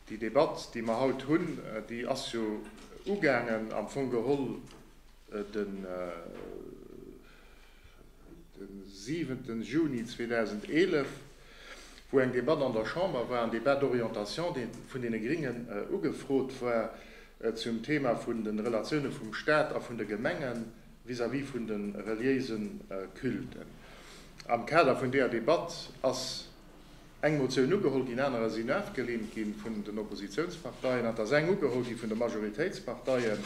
Déi Debatt, déi mer haut hunn, déi ass jo ugaangen am Fong geholl de 7 Juni 2011, wou eng Debatt an der Chamber war, en Débat d'orientation, dee vun deene Gringen ugefrot war, zum Thema vun de Relatioune vum Stat a vun de Gemenge vis-à-vis vun de reliéise Culten. Am Kader vun deeër Debatt ass eng Motioun ugeholl ginn, anerer sinn afgelehnt gi vun den Oppositionsparteien, an et ass eng ugeholl gi vun de Majoritéitsparteie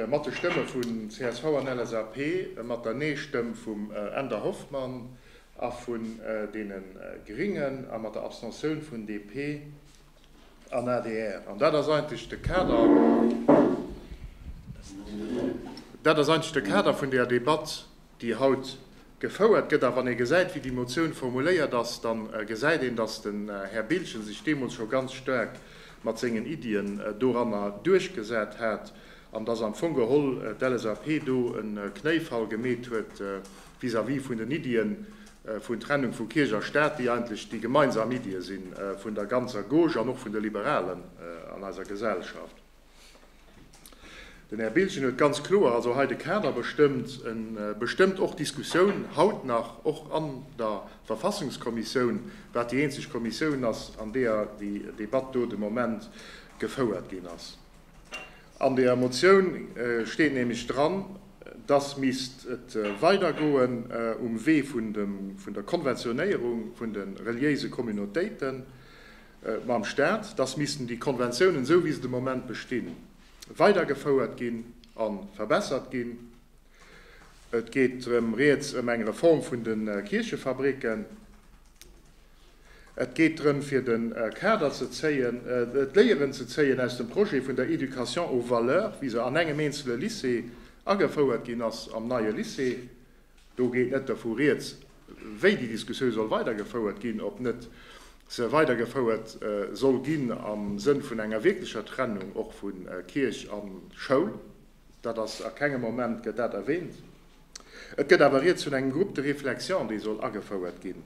mat de Stëmme vun csv an LSAP a mat der Nee-Stëmm vum Änder Hoffmann a vun deene Gringen a mat der Abstentioun vun DP an adr. An dat ass eigentlech de Kader, dat ass eigentlech de Kader vun där Debatt. déi haut gefouert gëtt. A wann ee gesäit, wéi déi Motioun formuléiert ass, da gesäit een, dass den Här Biltgen sech deemools scho ganz staark mat sengen Iddien doranner duerchgesat hat an dass am Fong geholl d'LSAP do e Knéifall gemeet huet vis-à-vis vun den Iddien vun Trennung vu Kierch a Staat, déi eigentlech déi gemeinsam Iddie si vun der ganzer Gauche an och vun de Liberalen an eiser Gesellschaft. Den Här Biltgen huet ganz kloer also hei de Kader bestëmmt. E bestëmmt och d'Diskussioun haut nach, och an der Verfassungskommissioun, wat déi eenzeg Kommissioun ass, an deeër déi Debatt do de Moment gefouert ginn ass. An der Motioun steet nämlech dran, dass misst et weidergoen um Wee vun der Konventionéierung vun de reliéise Communautéiten. mam Stat, dass missten déi Konventiounen, esou wéi se de Moment bestinn, weidergefouert ginn a verbessert ginn. Et geet rëm Rieds ëm eng Reform vun de Kierchefabricken. Et geet drëm, fir de Kader ze zéien, d'Léieren ze zéien aus dem Projet vun der Éducation aux valeurs, wéi se an engem eenzele Lycée agefouert ginn ass, am neie Lycée. Do geet net dervu rieds, wéi déi Diskussioun soll weidergefouert ginn, ob net se weidergefouert soll ginn am Sënn vun enger wierklecher Trennung och vu Kierch a Schoul. Dat ass a kengem Moment gëtt dat erwähnt. Et gëtt awer rieds vun engem Groupe de réflexion, dee soll agefouert ginn,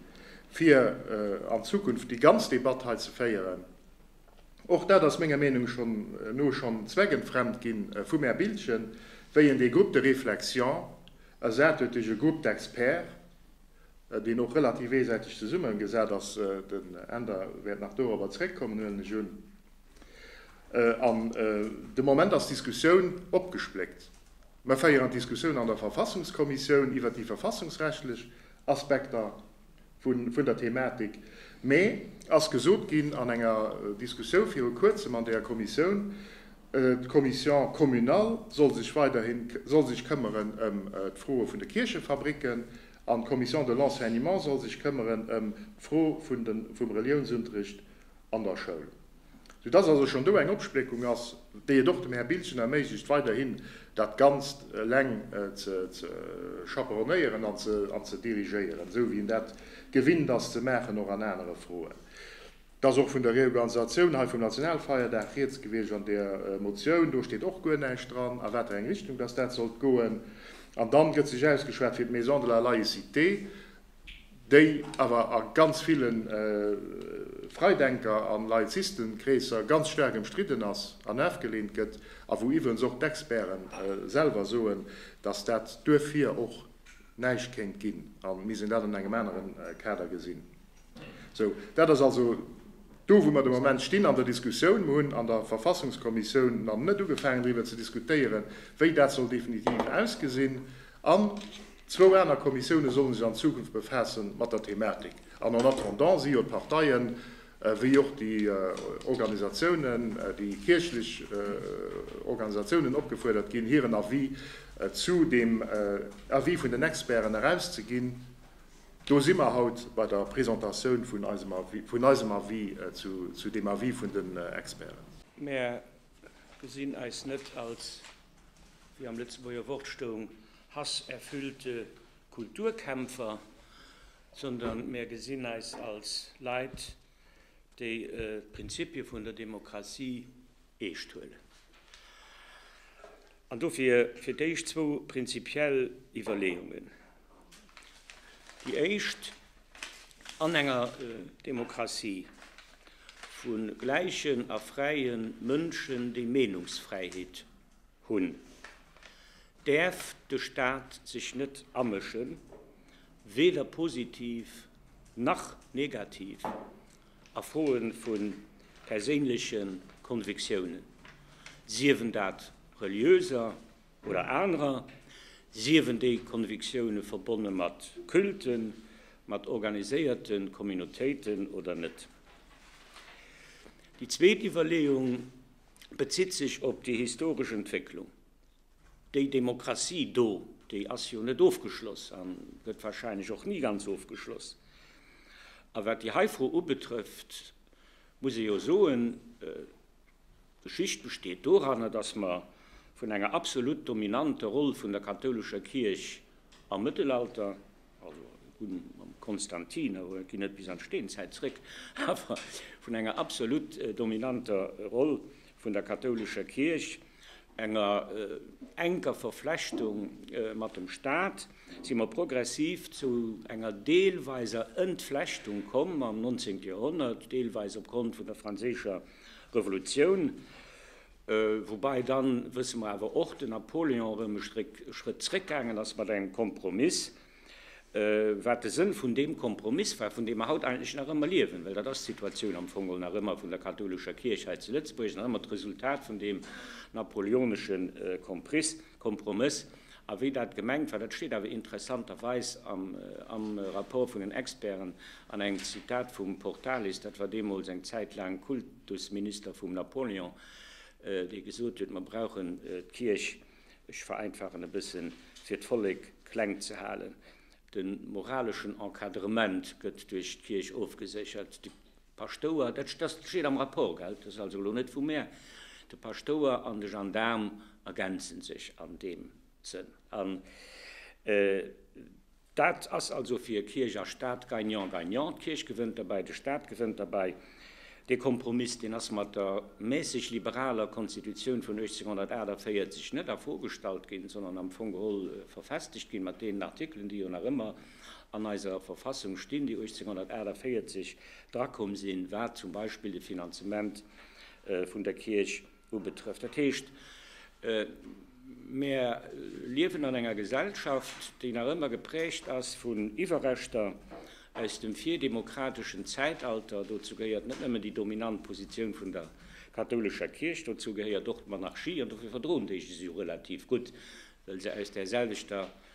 fir an Zukunft déi ganz Debatt hei ze féieren. Och dat ass menger Meenung no schon zweckentfremd gin vum Här Biltgen, wéi en dee Groupe de réflexion ersat huet duerch e Groupe d'experts, deen och relativ eesäiteg zesummen gesat ass. Den Änder wäert nach dorobber zréckkommen, huelen ech un. An de Moment ass d'Diskussioun opgespléckt. Mer féieren d'Diskussioun an der Verfassungskommissioun iwwert déi verfassungsrechtlech Aspekter. vun der Thematik, mee ass gesot ginn an enger Diskussioun viru kuerzem an der Kommissioun, d'Commission communale soll sech weiderhin soll sech këmmeren ëm d'Froe vun de Kierchefabricken an d'Commission de l'enseignement soll sech këmmeren ëm d'Fro vun de vum Reliounsunterricht an der Schoul. Sou dass also schonn do eng Opspléckung ass, déi et och dem Här Biltgen erméiglecht, weiderhin dat Ganzt eleng ze chaperonnéieren an ze dirigéieren, esou wéi en dat gewinnt ass ze maachen, och an anere Froen. Et ass och vun der Reorganisatioun hei vum Nationalfeierdag rieds gewiescht an där Motioun. Do steet och guer näischt dran, a wat fir eng Richtung dass dat sollt goen. An dann gëtt sech ausgeschwat fir d'Maison de la laïcité. déi awer a ganz ville Freidenker a Laizisten-Kreesser ganz staark ëmstridden ass an afgeleent gëtt, a wou iwwerens och d'Experte selwer soen, datt dat duerfir och näischt kéint ginn, a mir sinn dat an engem anere Kader gesinn. Sou dat ass also do, wou mer de Moment stinn an der Diskussioun. Mer hunn an der Verfassungskommissioun nach net ugefaangen driwwer ze diskutéieren, wéi dat soll definitiv ausgesinn. Zwou aner Kommissioune solle sech an Zukunft befaasse mat der Thematik. An en attendant si jo d'Parteien, wéi och déi Organisatiounen, déi kierchlech Organisatiounen opgefuerdert ginn, hiren Avis zu deem Avis vun den Experten erauszeginn. Do si mer haut bei der Presentatioun vun eisem Avis zu deem Avis vun den Experten. Mer gesinn eis net als Wéi am Lëtzebuerger Wort stoung, hasserfüllte Kulturkämpfer, sondern mär gesinn eis als Leit, déi d'Prinzipie vun der Demokratie eescht huelen. An dofir fir d'éischt zwou prinzipiell Iwwerleeungen. Déi éischt an enger Demokratie vu gläichen a fräie Mënschen, déi Meenungsfräiheet hunn, däerf de Staat sech net amëschen, weder positiv nach negativ a Froe vu perséinleche Convictiounen, siewen dat reliöser, Oder anerer siewen déi Konviktioune verbonne mat Culten, mat organiséierte Communautéiten oder net. Déi zweet Iwwerleeung bezitt sech op déi historesch Entwécklung. Déi Demokratie do, déi ass jo net ofgeschloss a gëtt warscheinlech och ni ganz ofgeschloss. A wat déi hei Fro ubetrëfft, muss ee jo soen, D'Geschicht besteet doranner, datt mer vun enger absolut dominante Roll vun der kathoulescher Kierch am Mëttelalter, also un mam Konstantin, awer et geet net bis an d'Steenzäit zréck, awer vun enger absolut dominanter Roll vun der kathoulescher Kierch, enger enker Verflechtung mat dem Staat, si mer progressiv zu enger deelweiser Entflechtung komm am 19. Joerhonnert, deelweis opgrond vun der franséischer Revolutioun, woubäi dann, wësse mer awer och, den Napoléon erëm e Stréck e Schrëtt zréckgaangen ass mat engem Kompromiss, wat de Sënn vun deem Kompromiss war, vun deem mer haut eigentlech nach ëmmer liewen, well dat ass d'Situatioun am Fong geholl nach ëmmer vun der kathoulescher Kierch hei zu Lëtzebuerg, nach ëmmer d'Resultat vun deem napoleonesche Kompriss. Kompromëss. A wéi dat gemengt war, dat steet awer interessanterweis am Rapport vun den Experten an engem Zitat vum Portalis, dat war deemools eng Zäit laang Kultusminister vum Napoléon, dee gesot huet, mer brauchen d'Kierch, ech vereinfachen e bëssen, fir d'Vollek kleng ze halen. De moraleschen Encadrement gëtt duerch d'Kierch ofgeséchert. Paschtouer, dat steet am Rapport, gell? Dat ass also elo net vu mär. De Paschtouer an de Gendaarm ergänze sech an deem Sënn. An dat ass also fir Kierch a Stat gagnant-gagnant. D'Kierch gewënnt derbäi, de Stat gewënnt derbäi. Dee Kompromiss, deen ass mat der mässeg liberaler Konstitutioun vun 1848 net a Fro gestallt ginn, sondern am Fong geholl verfestegt ginn, mat deenen Artikelen, déi jo nach ëmmer. An eiser Verfassung stinn, déi 1848 drakomm sinn, wat zum Beispill de Finanzement vun der Kierch ubetrëfft. Dat heescht, mär liewen an enger Gesellschaft, déi nach ëmmer geprägt ass vun Iwwerreschter aus dem virdemokrateschen Zäitalter. Dozou gehéiert net nëmmen déi dominant Positioun vun der kathoulescher Kierch, dozou gehéiert och d'Monarchie. An dofir verdroen déi sech jo relativ gutt, well se aus där selwechter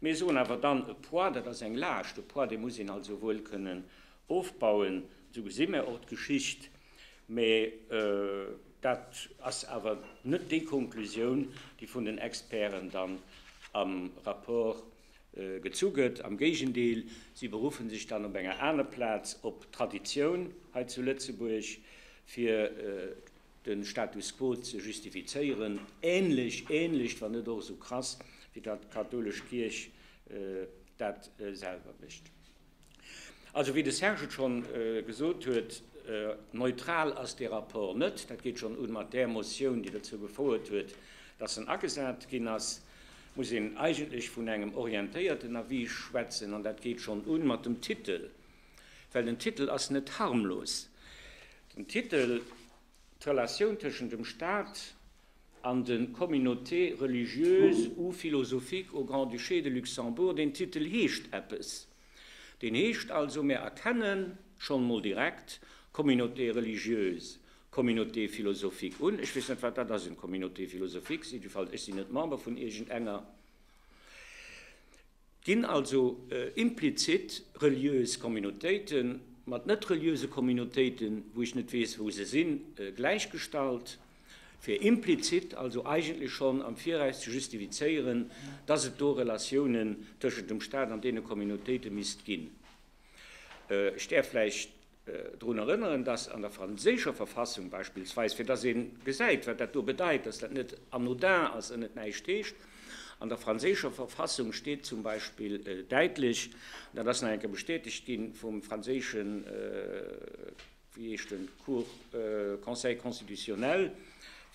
Mir soen awer dann, e Poids, dat ass eng Laascht, e Poids, dee muss een also wuel kënnen ofbauen. Esou gesi mir och d'Geschicht. Mä dat ass awer net déi Konklusioun, déi vun den Experten dann am Rapport gezu gëtt. Am Géigendeel, si beruffen sech dann op enger aner Plaz op d'Traditioun hei zu Lëtzebuerg, fir de Status quo ze justifizéieren, ähnlech, ähnlech, wann net och esou krass, wéi datt d'kathoulesch Kierch dat selwer mécht. Also, wéi de Serge et schonn gesot huet, neutral ass dee Rapport net. Dat geet schonn u mat där Motioun, déi dozou gefouert huet, datt en agesat ginn ass. Et muss een eigentlech vun engem orientéierten Avis schwätzen, an dat geet schonn u mat dem Titel, Well den Titel ass net harmlos. Den Titel, d'Relatioun tëschent dem Staat an de Communautés religieuses ou philosophiques au Grand-Duché de Luxembourg, deen Titel heescht eppes. Deen heescht also, mir erkennen schonn emol direkt Communautés religieuses, Communautés philosophiques un. Ech weess net, wat dat ass, eng Communauté philosophique. Jiddefalls, ech sinn net Member vun iergendenger. Ginn also implizit reliös Communautéite mat net-reliöse Communautéiten, wou ech net weess, wou se sinn, gläichgestallt, fir implizit also eigentlech schonn am Viraus ze justifizéieren, dass et do Relatiounen tëschent dem Stat an deene Communautéite misst ginn? Ech däerf vläicht drun erënneren, dass an der franséischer Verfassung beispillsweis, fir dass ee gesäit, wat dat do bedeit, dass dat net anodin ass an net näischt heescht, an der franséischer Verfassung steet zum Beispill däitlech, dat ass nach eng Kéier bestätegt gi vum franséischen, wéi heescht en, Cour, Conseil constitutionnel,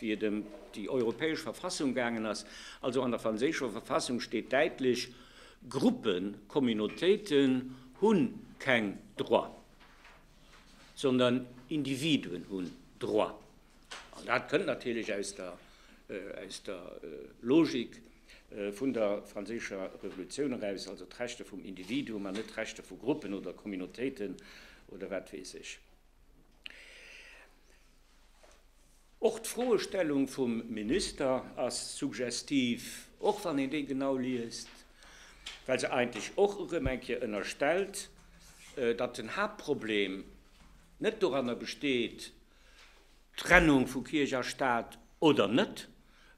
wéi et ëm déi europäesch Verfassung gaangen ass, also an der franséischer Verfassung steet däitlech, Gruppen, Communautéiten hu keng Droit, sondern Individuen hunn Droit. An dat kënnt natierlech aus der, aus der Logik vun der franséischer Revolutioun eraus, also d'Rechte vum Individuum an net d'Rechte vu Gruppen oder Communautéiten oder wat weess ech. Och d'Froestellung vum Minister ass suggestiv, och wann een déi genau liest, well se eigentlech och erëm eng Kéier ënnerstellt, datt den Haaptproblem net doranner besteet, Trennung vu Kierch a Staat oder net,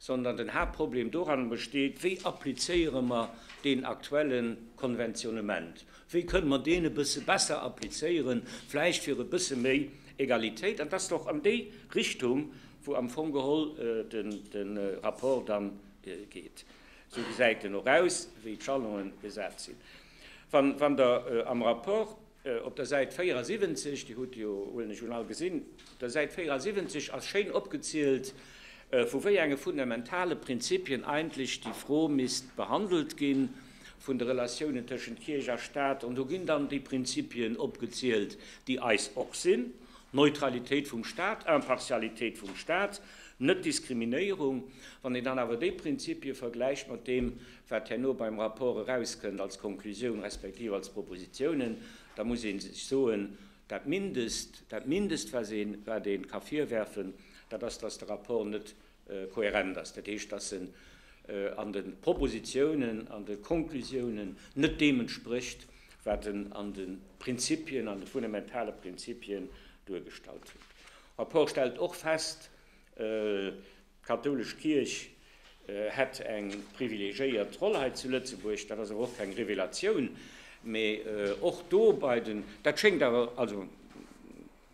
Sondern den Haaptproblem doran besteet, wéi applizéiere mer deen aktuelle Konventionnement? Wéi kënne mer deen e bësse besser applizéieren, vläicht fir e bësse méi Egalitéit? An et ass och an déi Richtung, wou am Fong geholl de Rapport dann geet. Esou gesäit en och aus, wéi d'Jalongen gesat sinn. Wann Der am Rapport Op der Säit 74, Dir hutt déi jo, huelen ech un, all gesinn, op der Säit 74 ass schéin opgezielt, vu wéi enge fundamentale Prinzipien eigentlech déi Fro misst behandelt gi vun de Relatiounen tëschent Kierch a Stat. An do ginn dann déi Prinzipien opgezielt, déi eis och sinn, Neutralitéit vum Stat, Impartialitéit vum Stat, Net-Diskriminéierung. Wann een dann awer déi Prinzipie vergläicht mat deem, wat herno beim Rapport erauskënnt als Konklusioun respektiv als Propositionen, da muss ee sech soen, dat Mindest, dat Mindest, wat ee ka virwerfen, dat ass, dass de Rapport net kohärent ass, dat heescht, dass en an de Propositionen, an de Konklusionen net deem entsprécht, wat en an de Prinzipien, an de fundamentale Prinzipien duergestallt huet. De Rapport stellt och fest, D'kathoulesch Kierch hätt eng privilegiéiert Roll hei zu Lëtzebuerg, dat ass awer och keng Revelatioun, mee och do bei den, dat schéngt awer, also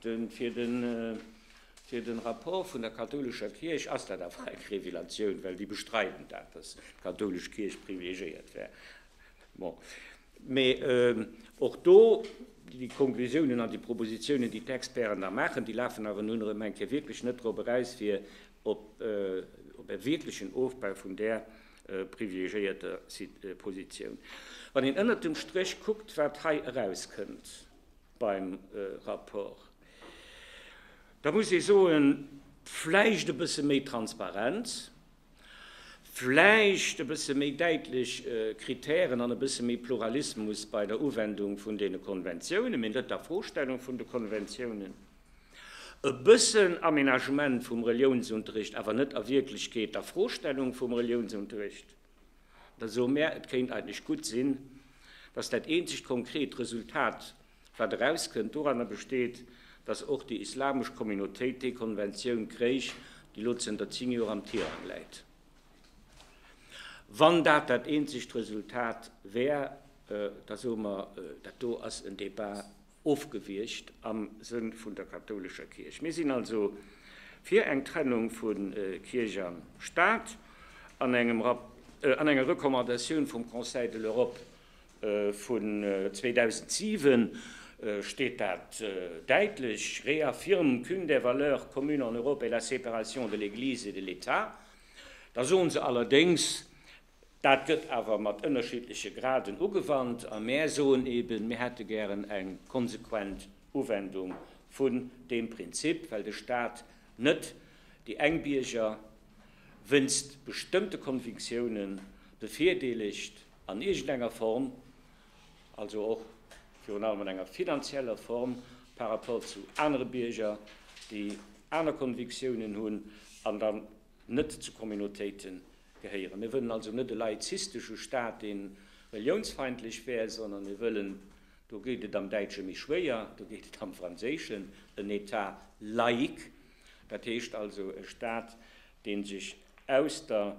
fir de Rapport vun der kathoulescher Kierch ass dat awer eng Revelatioun, well déi bestreiden dat, datt d'kathoulesch Kierch privilegiéiert wär. Bon. Mee och do, déi Konklusiounen an déi Propositionen, déi d'Experten da maachen, déi lafen awer nun erëm eng Kéier wierklech net drop eraus, fir op e wierklechen Ofbau vun där privilegiéierter Positioun. Wann een ënnert dem Stréch kuckt, wat hei erauskënnt beim Rapport, da muss ee soen, vläicht e bësse méi Transparenz, Vläicht e bësse méi däitlech Kritären an e bësse méi Pluralismus bei der Uwendung vun deene Konventiounen, mee net der Vorstellung vun de Konventiounen. E bëssen Aménagement vum Reliounsunterricht, awer net a Wierklechkeet der Vorstellung vum Reliounsunterricht. Da soe mär, et kéint eigentlech gutt sinn, dass dat eenzegt konkret Resultat, Wat erauskënnt, doranner besteet, datt och déi islamesch Communautéit déi Konventioun kréich, déi elo zënter 10 Joer am Tirang läit. Wann dat dat eenzegt Resultat wär, da soe mer, dat do ass en Debat ofgewiegt am Sënn vun der kathoulescher Kierch. Mir sinn also fir eng Trennung vu Kierch a Staat an enger Recommandatioun vum Conseil de l'Europe Vun 2007 steet dat däitlech, réaffirment qu'une des valeurs communes en Europe est la séparation de l'Église et de l'État. Da soen se allerdéngs, dat gëtt awer mat ënnerschiddleche Graden ugewannt, a mär soen eben, mir hätte gären eng konsequent Uwendung vun deem Prinzip, well de Stat net déi eng Bierger wéinst bestëmmte Konviktioune bevirdeelegt, an iergend enger Form, also och virun allem an enger finanzieller Form, par rapport zu anere Bierger, déi aner Konviktiounen hunn an dann net zu Communautéite gehéieren. Mir wëllen also net e laizistesche Stat, dee reliounsfeindlech wär, sondern mir wëllen, do gétt et am Däitsche méi schwéier, do gétt et am Franséischen, en État laïque, dat heescht also e Stat, dee sech aus der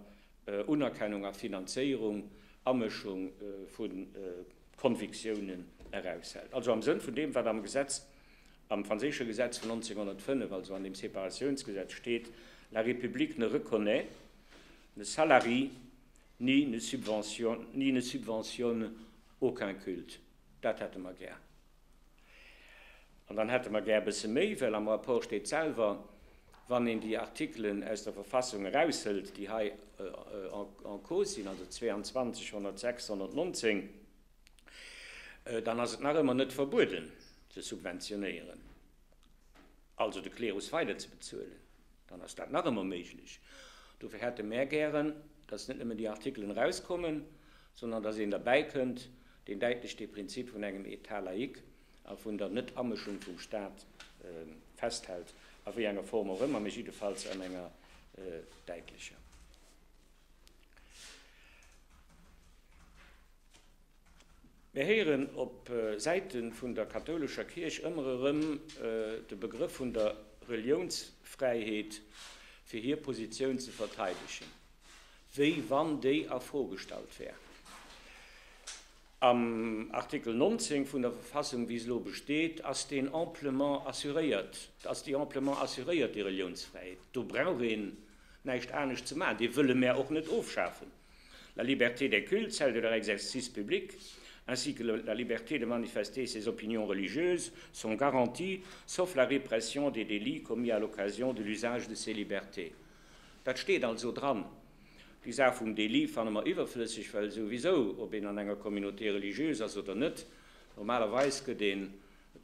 Unerkennung a Finanzéierung, Amëschung vu Konviktiounen eraushält. Also am Sënn vun deem, wat am Gesetz, am franséische Gesetz vun 1905, also an dem Separatiounsgesetz steet, La République ne reconnaît, ne salarie ni ne subventionne aucun culte. Dat hätte mer gär. An dann hätte mer gär e bësse méi, well am Rapport steet selwer, wann een déi Artikelen aus der Verfassung eraushëlt, déi hei en cause sinn, also 22, 106, 119, dann ass et nach ëmmer net verbueden ze subventionéieren, also de Klerus weider ze bezuelen, dann ass dat nach ëmmer méiglech. Dofir hätte mär gären, dass net nëmmen déi Artikelen erauskommen, sondern dass een derbäi kënnt, deen däitlech dee Prinzip vun engem État laïque a vun der Net-Amëschung vum Stat festhält, a wéi enger Form och ëmmer, mä jiddefalls an enger däitlecher. Mir héieren op Säite vun der kathoulescher Kierch ëmmer erëm de Begrëff vun der Reliounsfräiheet, fir hir Positioun ze verteidegen. wéi wann déi a Fro gestallt wär. Am Artikel 19 vun der Verfassung, wéi se elo besteet, ass deen amplement assuréiert, ass déi amplement assuréiert, déi Reliounsfräiheet. Do brauch een näischt anescht ze maachen. Déi wëlle mär och net ofschafen. La liberté des cultes, celle de leur exercice public, ainsi que la liberté de manifester ses opinions religieuses sont garanties, sauf la répression des délits commis à l'occasion de l'usage de ces libertés. Dat steet also dran. Déi Saach vum Délit fanne mer iwwerflësseg, well souwisou, ob een an enger Communauté religieuse ass oder net, normalerweis gëtt ee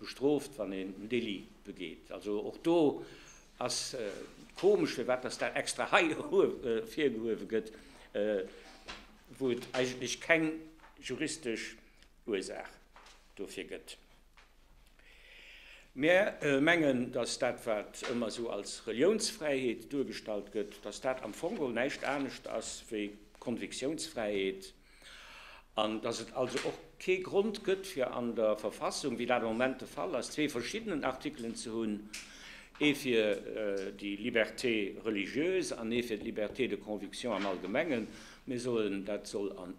bestrooft, wann een en Délit begeet. Also och do ass et komesch, firwat dass dat extra hei ervirgehuewe gëtt, wou et eigentlech keng juristesch Ursaach dofir gëtt. Mär mengen, dass dat, wat ëmmer esou als Reliounsfräiheet duergestallt gëtt, dass dat am Fong geholl näischt anescht ass wéi Konviktiounsfräiheet an dass et also och kee Grond gëtt, fir an der Verfassung, wéi dat am Moment de Fall ass, zwee verschiddenen Artikelen ze hunn, ee fir déi Liberté religieuse an ee fir d'Liberté de conviction am Allgemengen. Mir soen, dat soll an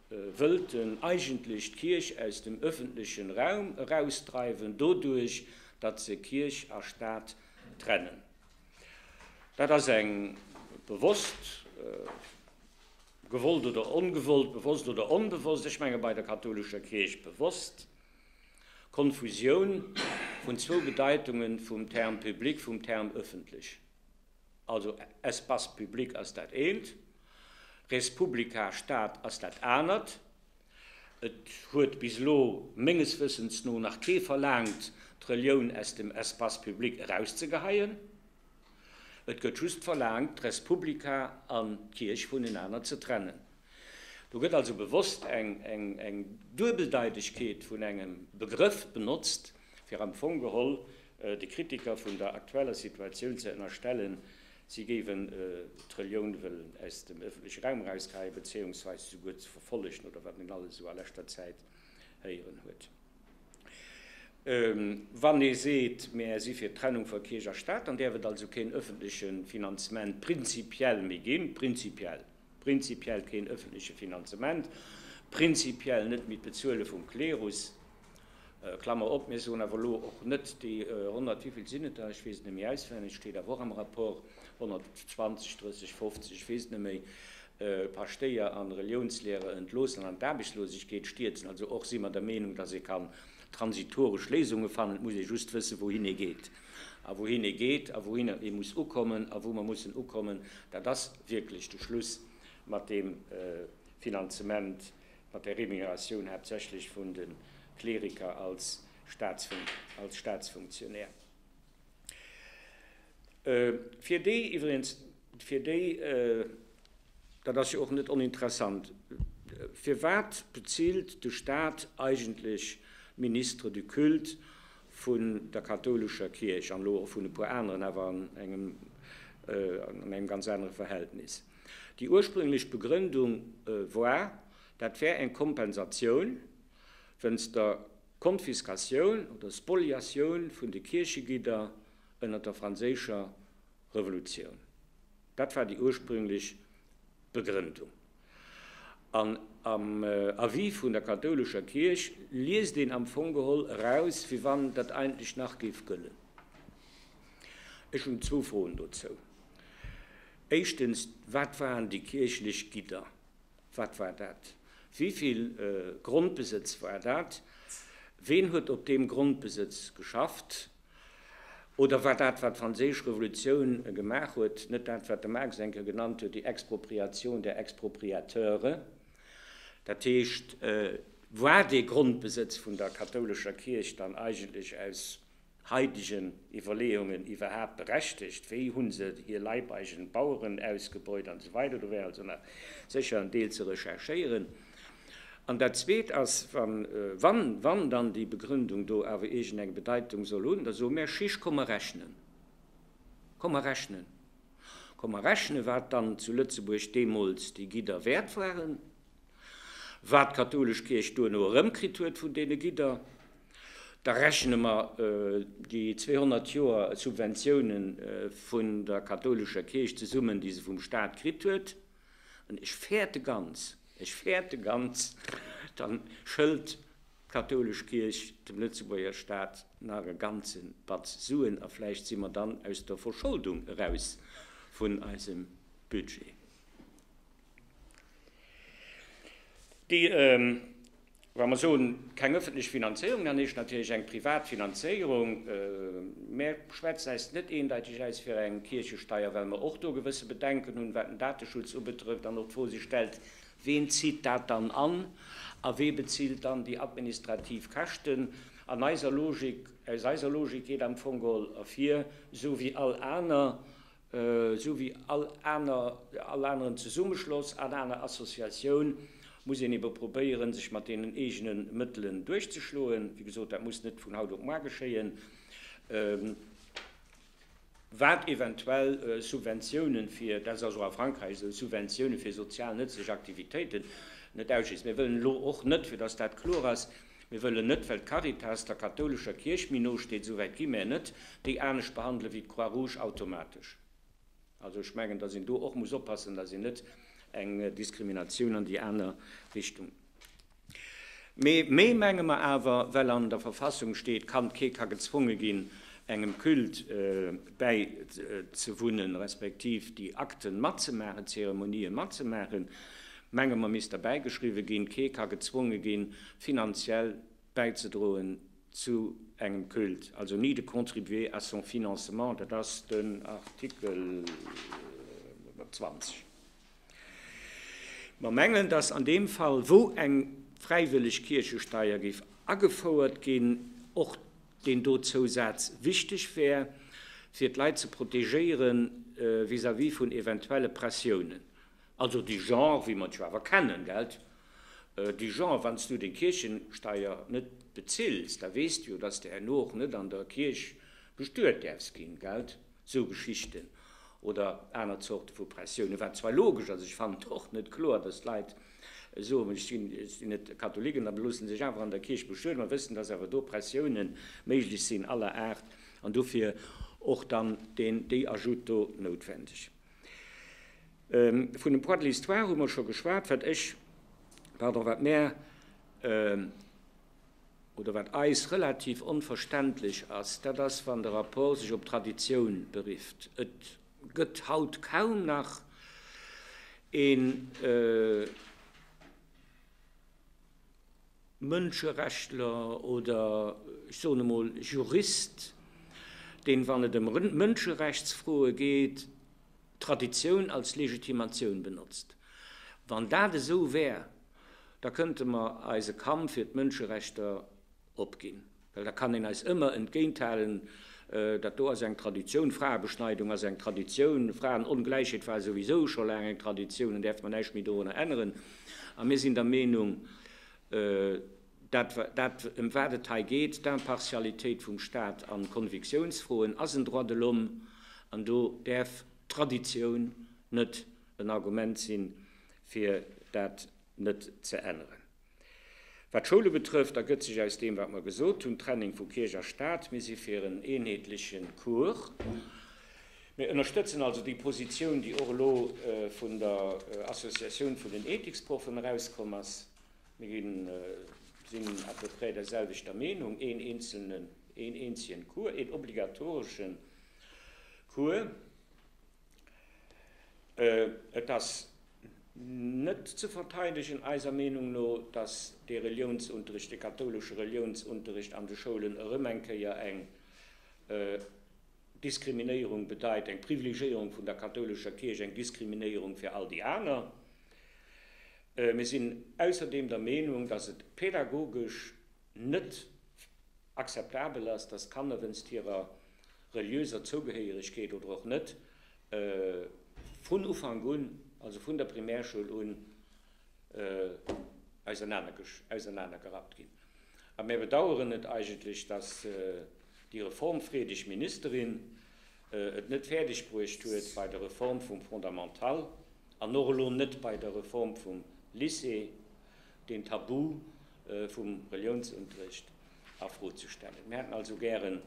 wëllt en eigentlech d'Kierch aus dem ëffentlechen Raum erausdreiwen, doduerch datt se Kierch a Staat trennen. Dat ass eng bewosst gewollt oder ongewollt, bewosst oder onbewosst, ech menge bei der kathoulescher Kierch bewosst, Konfusioun vun zwou Bedeitunge vum Term public, vum Term ëffentlech. Also Espace public ass dat eent, res publica Stad ass dat anert. Et huet bis elo menges Wëssens no nach kee verlaangt, d'Relioun aus dem Espace public erauszegeheien. Et gëtt just verlaangt, d'res publica an d'Kierch vunenaner ze trennen. Do gëtt also bewosst eng Duebeldeitegkeet vun engem Begrëff benotzt, fir am Fong geholl De Kritiker vun der aktueller Situatioun ze ënnerstellen, si géiwen d'Relioun wëllen aus dem ëffentleche Raum erauskeien, bezéiungsweis souguer ze verfollegen, oder wat een alles esou a leschter Zäit héieren huet. Wann ee seet, Mäer si fir d'Trennung vu Kierch a Staat, dann däerf et also keen ëffentleche Finanzement prinzipiell méi ginn, prinzipiell! Prinzipiell keen öffentliche Finanzement, prinzipiell net méi d'Bezuele vum Klerus, Klammer op, mir soen awer elo och net déi 100, wéi vill sinn et der, ech weess et net méi auswenneg, steet awer och am Rapport, 120, 30, 50, ech weess et net méi, Paschtéier an Reliounslehrer entloossen an d'Aarbechtslosegkeet stierzen. Also och si mer der Meenung, dass ee kann transitoresch Léisunge fannen, et muss ee just wëssen, wouhin ee geet a wouhin ee geet a wouhinner ee muss ukommen a wou mer mussen ukommen, dat ass, wierklech de Schluss mat deem Finanzement, mat der Remuneratioun haaptsächlech vun de Kleriker als Staatsfunktionär. Fir déi iwwregens, fir déi, dat ass jo och net oninteressant, firwat bezilt de Staat eigentlech Ministres du culte vun der kathoulescher Kierch an elo och vun e puer aneren, awer an engem an engem ganz anere Verhältnis. Déi ursprünglech Begrëndung war, dat wär eng Kompensatioun wéinst der Konfiskatioun oder Spoliatioun vun de Kierchegidder ënner der franséischer Revolutioun. Dat war déi ursprünglech Begrëndung. An am Avis vun der kathoulescher Kierch liest een am Fong geholl eraus, wéi wann dat eigentlech nach géif gëllen. Ech hunn zwou Froen dozou. Éischtens, Wat waren déi kierchlech Gidder? Wat war dat? Wéi vill Grondbesëtz war dat? Ween huet op deem Grondbesëtz geschafft? Oder war dat, wat d'Franséisch Revolutioun gemaach huet, net dat, wat de Marx eng Kéier genannt huet, die Expropriation der Expropriateure, dat heescht, war dee Grondbesëtz vun der kathoulescher Kierch dann eigentlech aus haitegen Iwwerleeungen iwwerhaapt berechtigt? Wéi hu se hir leibeigene Baueren ausgebeut? An esou weider. Do wär also nach sécher en Deel ze recherchéieren. An dat Zweet ass, Wann dann déi Begründung do awer iergend eng Bedeitung soll hunn, da soe mär, Chiche, komm mer rechnen. Komm mer rechnen. Komm mer rechnen, wat dann zu Lëtzebuerg deemools déi Gidder wäert waren, wat d'kathoulesch Kierch duerno erëmkritt huet vun deene Gidder. Da rechne mer déi 200 Joer Subventioune vun der kathoulescher Kierch zesummen, déi se vum Stat kritt huet. An ech fäerte ganz, ech fäerte ganz, dann schëlt d'kathoulesch Kierch dem Lëtzebuerger Staat nach e ganze Batz Suen a vläicht si mer dann aus der Verscholdung eraus vun eisem Budget. Wa mer soen, keng öffentlech Finanzéierung, dann heescht natierlech eng privat Finanzéierung. Mä schwätzt äis net eendeiteg äus fir eng Kierchesteier, well mer och do gewësse Bedenken hunn, wat den Dateschutz ubetrëfft an och d'Fro sech stellt, Ween zitt dat dann an a wee bezilt dann déi administrativ Käschten? An eiser Logik, aus eiser Logik geet am Fong geholl ervir, esou wéi all aner Esou wéi all aner, all aneren Zesummeschloss, all aner Associatioun muss een ebe probéieren, sech mat deenen eegene Mëttelen duerchzeschloen. Wéi gesot, dat muss net vun haut op moar geschéien. Wat eventuell Subventiounen fir, dat ass also a Frankräich esou, Subventiounen fir sozial nëtzlech Aktivitéiten net ausschliesst. Mir wëllen elo och net, fir datt dat kloer ass, Mir wëllen net, well d'Caritas der kathoulescher Kierch méi no steet, souwäit gi mär net, déi anescht behandelen wéi d'Croix Rouge automatesch. Also ech mengen, datt een do och muss oppassen, datt een net eng Diskriminatioun an déi aner Richtung. Mee méi menge mer awer, well an der Verfassung steet, kann, kee ka gezwonge ginn, engem Culte bäizewunnen, respektiv déi Akten matzemaachen, d'Zeremonië matzemaachen. Menge mer misst derbäigeschriwwe ginn, Kee ka gezwonge ginn, finanziell bäizedroen zu engem Culte, also ni de contribuer à son financement, dat ass den Artikel 20. Mer mengen, dass an deem Fall, wou eng fräiwëlleg Kierchesteier géif agefouert ginn, och deen do Zousaz wichteg wär, fir d'Leit ze protegéiere vis-à-vis vun eventuelle Pressiounen. Also de Genre, wéi mer et jo awer kennen, gelt, de Genre, wann s du deng Kierchesteier net bezills, da weess du jo, dass s de herno och net an der Kierch bestuet däerfs ginn, gelt, sou Geschichten oder aner Zorte vu Pressiounen, wat zwar logesch ass. Ech fannen et och net kloer, dass d'Leit soen, ech sinn sinn net Katholik an da loosse sech awer an der Kierch bestueden, a wëssen, dass awer do Pressiounen méiglech sinn aller Aart an dofir och dann deen, déi Ajoute do noutwendeg. Vun dem Poids de l'histoire hu mer scho geschwat. Wat ech, pardon, wat mär oder wat eis relativ onverständlech ass, dat ass, wann de Rapport sech op d'Traditioun berifft. Et gëtt haut kaum nach een. Mënscherechtler oder ech soen emol Jurist, deen, wann et ëm Mënscherechtsfroe geet, d'Traditioun als Legitimatioun benotzt. Wann dat esou wär, da kënnte mer eise Kampf fir d'Mënscherechter opginn. Well da kann een eis ëmmer entgéinthalen, dat do ass eng Traditioun, Fraebeschneidung ass eng Traditioun, Fraenongläichheet war souwisou scho laang eng Traditioun, an däerf mer näischt méi dorunner änneren. A mir sinn der Meenung, dat, dat ëm wat et hei geet, d'Impartialitéit vum Stat a Konviktiounsfroen, ass en Droit de l'homme, an do däerf d'Traditioun net en Argument sinn, fir dat net ze änneren. Wat d'Schoule betrëfft, ergëtt sech aus deem, wat mer gesot hunn, d'Trennung vu Kierch a Staat. Mir si fir en eenheetleche Cours. Mir ënnerstëtzen also déi Positioun, déi och elo vun der Associatioun vun den Ethiksproffen erauskomm ass. Mir sinn à peu près derselwechter Meenung, een eenzelnen, een eenzegen Cours, een obligatoresche Cours. Et ass net ze verteidegen, eiser Meenung no, dass dee Reliounsunterricht, dee kathoulesche Reliounsunterricht an de Schoulen erëm eng Kéier eng Diskriminéierung bedeit, eng Privilegéierung vun der kathoulescher Kierch, eng Diskriminéierung fir all déi aner. Mir sinn ausserdeem der Meenung, dass et pädagogesch net akzeptabel ass, dass Kanner wéinst hirer reliöser Zougehéieregkeet oder och net vun Ufank un, also vun der Primärschoul un, ausernanergerappt ginn. A mir bedauern et eigentlech, dass déi reformfreedeg Ministerin et net fäerdeg bruecht huet, bei der Reform vum Fondamental an och elo net bei der Reform vum Lycée, deen Tabu vum Reliounsunterrecht a Fro ze stellen. Mir hätten also gären,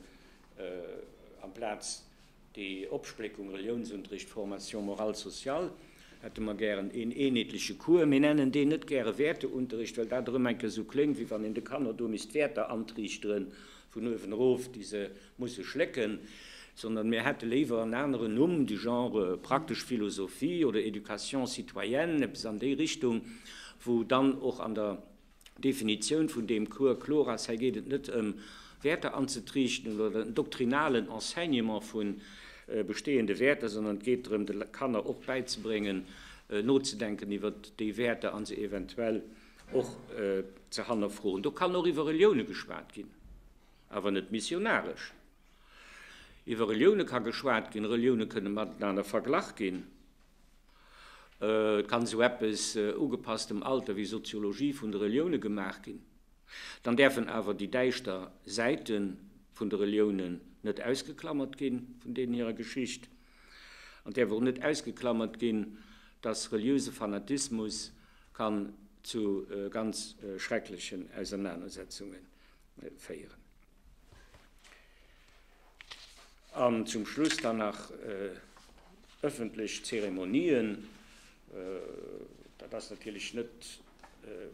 amplaz déi Opspléckung Reliounsunterrecht, Formation morale, sociale, hätte mer gären een eenheetleche Cours. Mir nennen deen net gäre Wäerteunterrecht, well dat erëm eng Kéier esou kléngt, wéi wann een de Kanner do misst Wäerter antriichteren vun uewen erof, déi se Musse schlécken, sondern mir hätte léiwer en aneren Numm du genre praktesch Philosophie oder Éducation citoyenne, eppes an déi Richtung, wou dann och an der Definitioun vun deem Cours kloer ass, hei geet et net ëm Wäerter anzetriichteren oder en doktrinalen Enseignement vu bestehende Wäerter, sondern et geet drëm de Kanner och bäizebréngen nozedenken iwwert déi Wäerter a se eventuell och ze hannerfroen. Do kann och iwwer Reliounen geschwat ginn. Awer net missionaresch. Iwwer Relioune ka geschwat ginn, Relioune kënne matenaner verglach ginn. Et kann esou eppes, ugepasst dem Alter, wéi Soziologie vun de Relioune gemaach ginn. Dann däerfen awer déi däischter Säite vun de Reliounen net ausgeklamert ginn vun deenen hirer Geschicht. An et däerf och net ausgeklamert ginn, datt reliöse Fanatismus kann zu ganz schrecklechen Ausernanersetzungen féieren. An zum Schluss dann nach ëffentlech Zeremonien. Dat ass natierlech net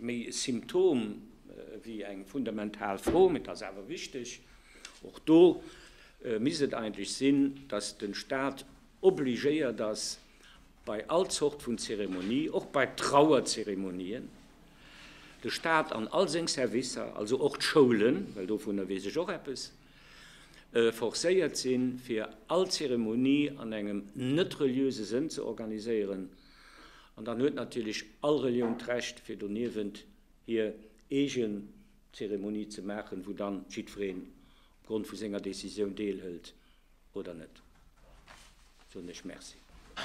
méi e Symptom wéi eng fundamental Fro, mee et ass awer wichteg. Och do misst et eigentlech sinn, dass de Stat obligéiert ass, bei all Zort vun Zeremonie, och bei Trauerzeremonien, de Staat an all seng Servicer, also och d'Schoulen, well dovunner weess ech och eppes, forcéiert sinn, fir all Zeremonie an engem net-reliöse Sënn ze organiséieren, an dann huet natierlech all Relioun d'Recht, fir doniewent hir eegen Zeremonie ze maachen, wou dann jiddwereen opgrond vu senger Décisioun deelhëlt oder net. Soen ech Merci.